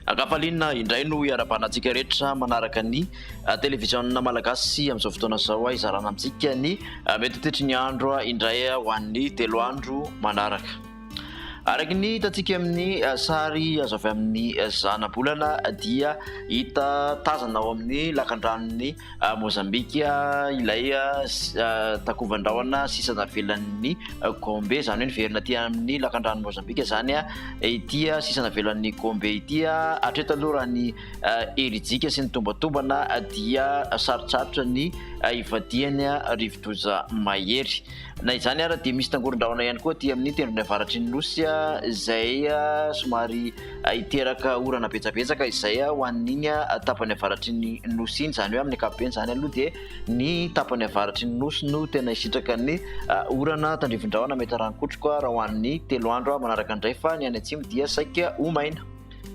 Ankafaliana indray no iarabahanantsika rehetra manaraka ny ah, televiziona malagasy amin'izao fotoana izao ah, izarana amintsika ny ah, mety ho tetry ny andro ah, indray ho an'ny telo andro manaraka. Araka ny hitantsika amin'ny eh, sary azo avy amin'ny eh, zanabolana dia hita tazana ao amin'ny lakandranon'ny eh, Mozambika ilay takovan-drahona sisa navelan'ny Gombe, izany hoe niverina aty amin'ny lakandranon'i Mozambika izany ity sisa navelan'ny Gombe ity. Hatreto aloha raha ny herijika sy ny tombatombana dia sarotsarotra ny hivadihany rivodoza mahery. Na izany ara dia misy tangoron-drahona ihany koa aty amin'ny tendrony avaratry ny nosy izay somary hiteraka orana betsabetsaka izay ho an'iny tapany avaratry ny nosy iny. Izany hoe amin'ny ankapobeny izany aloha dia ny tapany avaratry ny nosy no tena hisitraka ny orana tandrifin-drahona mety rano-kotroka raha ho an'ny telo andro manaraka indray fa ny any atsimo dia saika ho maina.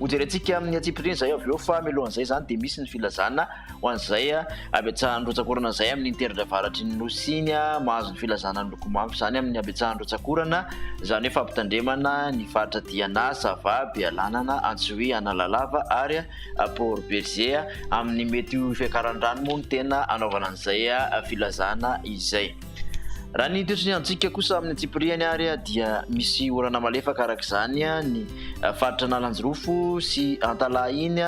Hojerentsika amin'ny antsipiriany izay avy eo fa mialohan'izay izany dia misy ny filazana ho an'izay habetsahan'ny rotsakorana izay amin'ny teritra avaratry ny nosy iny mahazo ny filazana ny lokomavo izany amin'ny habetsahan'ny rotsakorana izany hoe fampitandremana ny faritra Diana, Sava, Bealanana, Antsohihy, Analalava ary Port Bergé. Amin'ny mety ho fiakaran-drano moa no tena anaovana an'izay filazana izay. Raha ny toetry ny antsika kosa amin'ny antsipirihany ary dia misy orana malefaka araka izany ny faritra Analanjirofo sy Antalaha iny.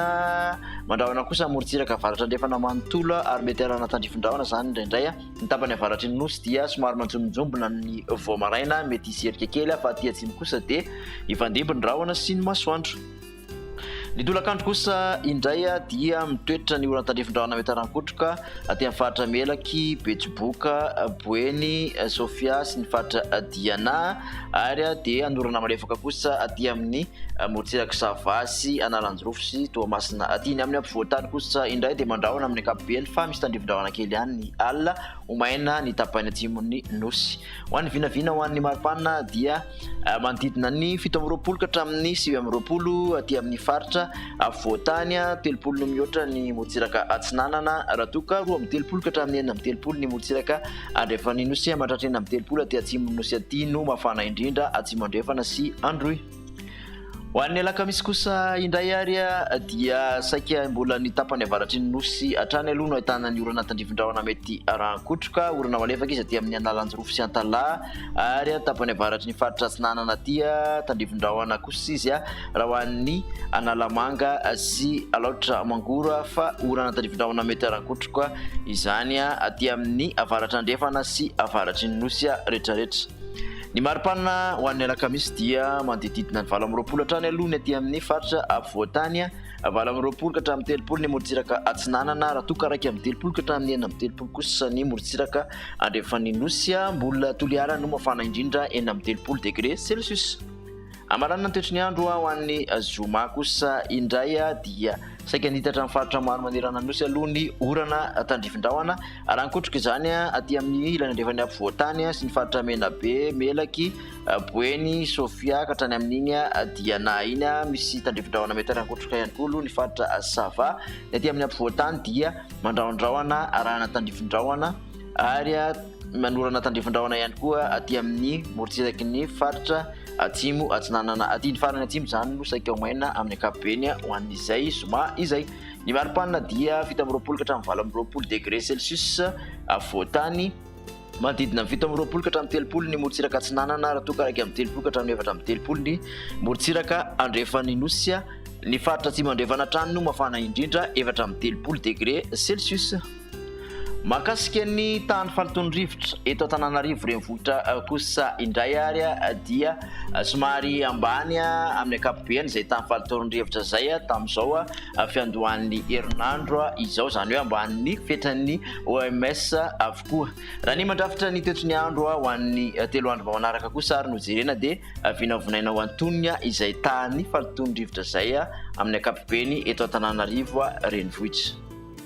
Mandrahona kosa amorontsiraka avaratra andrefana manontolo ary mety hanana tandrifin-drahona izany indraindray. Ny tapany avaratry ny nosy dia somary manjombonjombona amin'ny vao maraina, mety hisy erika kely fa aty atsimo kosa dia hifandimby ny rahona sy ny masoandro. Ny tolakandro kosa indray dia mitoetra ny oran tandrifin drahona miataran kotroka aty amin'ny faritra Melaky, Betsiboka, Boeny, Sofia sy ny faritra Diana ary dia hanorana malefaka kosa aty amin'ny morontsirak'i Sava sy Analanjirofo sy Toamasina aty. Ny amin'ny ampovoantany kosa indray dia mandrahona amin'ny ankapobeny fa misy tandrifin drahona kely ihany ny alina ho maina ny tapany atsimon'ny Nosy. Ho an'ny vinavina ho an'ny maripana dia manodidina ny fito amby roapolo ka hatramin'ny sivy amby roapolo aty amin'ny faritra afovoan-tany, telopolo no mihoatra ny morontsiraka atsinanana raha toa ka roa amby telopolo ka hatramin'ny enina amby telopolo ny morontsiraka andrefan'ny nosy, mandratry enina amby telopolo aty atsimon'ny nosy aty no mafana indrindra, atsimo andrefana sy androy. Ho an'ny alakamisy kosa indray ary dia saika mbola ny tapany avaratry ny nosy hatrany aloha no ahitana ny orana tandrifin-drahona mety arahan-kotroka. Orana malefaka izy aty amin'ny Analanjirofo sy Antalaha ary tapany avaratry ny faritra Atsinanana aty tandrifin-drahona kosa izy raha ho an'ny Analamanga sy Alaotra Mangoro fa orana tandrifin-drahona mety arahan-kotroka izany aty amin'ny avaratra andrefana sy avaratry ny nosy rehetrarehetra. Ny mari-panina ho an'ny alakamisy dia manodididina ny valo amby roapolo hatrany aloha ny aty amin'ny faritra afovoan-tany, valo amby roapolo ka hatramin'ny telopolo ny morontsiraka atsinanana, raha toa ka iraika amby telopolo ka hatramin'ny enina amby telopolo kosa ny morontsiraka andrefan'ny nosy. Mbola Toliara no mafana indrindra, enina amby telopolo degre celsius. Hamaranana ny toetry ny andro ho an'ny zoma kosa indray dia saika hanitatra ny faritra maro manerana ny Nosy aloha ny orana tandrifin-drahona raha nikotroka izany aty amin'ny ilany andrefan'ny afovoan-tany sy ny faritra Menabe, Melaky, Boeny, Sofia ka hatrany amin'iny dia na iny misy tandrifin-drahona mety harankotroka ihany koa aloha ny faritra Sava. Ny aty amin'ny afovoan-tany dia mandrahondrahona arahana tandrifin-drahona ary Manorana tandrifin-drahona ihany koa aty amin'ny morontsiraky ny faritra Atsimo Atsinanana aty. Ny farany Atsimo izany no saika ho maina amin'ny ankapobeny ho an'izay zoma izay. Ny maripanina dia fito amby roapolo ka hatramin'ny valo amby roapolo degre celsius afovoan-tany. Manodidina ny fito amby roapolo ka hatramin'ny telopolo ny morontsiraka Atsinanana raha toa ka iraika amby telopolo ka hatramin'ny efatra amby telopolo ny morontsiraka Andrefan'ny Nosy. Ny faritra Atsimo Andrefana hatrany no mafana indrindra, efatra amby telopolo degre celsius. Mahakasika ny tahan'ny faliton'ny rivotra eto Antananarivo renivohitra eh, kosa indray ary eh, dia eh, somary ambany amin'ny ankapobeny izay tahan'ny faliton'ny rivotra izay tamin'izao fiandohan'ny herinandro izao izany hoe ambanin'ny fetran'ny OMS avokoa. Raha ny mandrafitra ny toetry ny andro ho an'ny telo andro vao manaraka kosa ary no jerena dia vinavonaina ho antonina izay tahan'ny faliton'ny rivotra izay amin'ny ankapobeny eto Antananarivo renivohitra.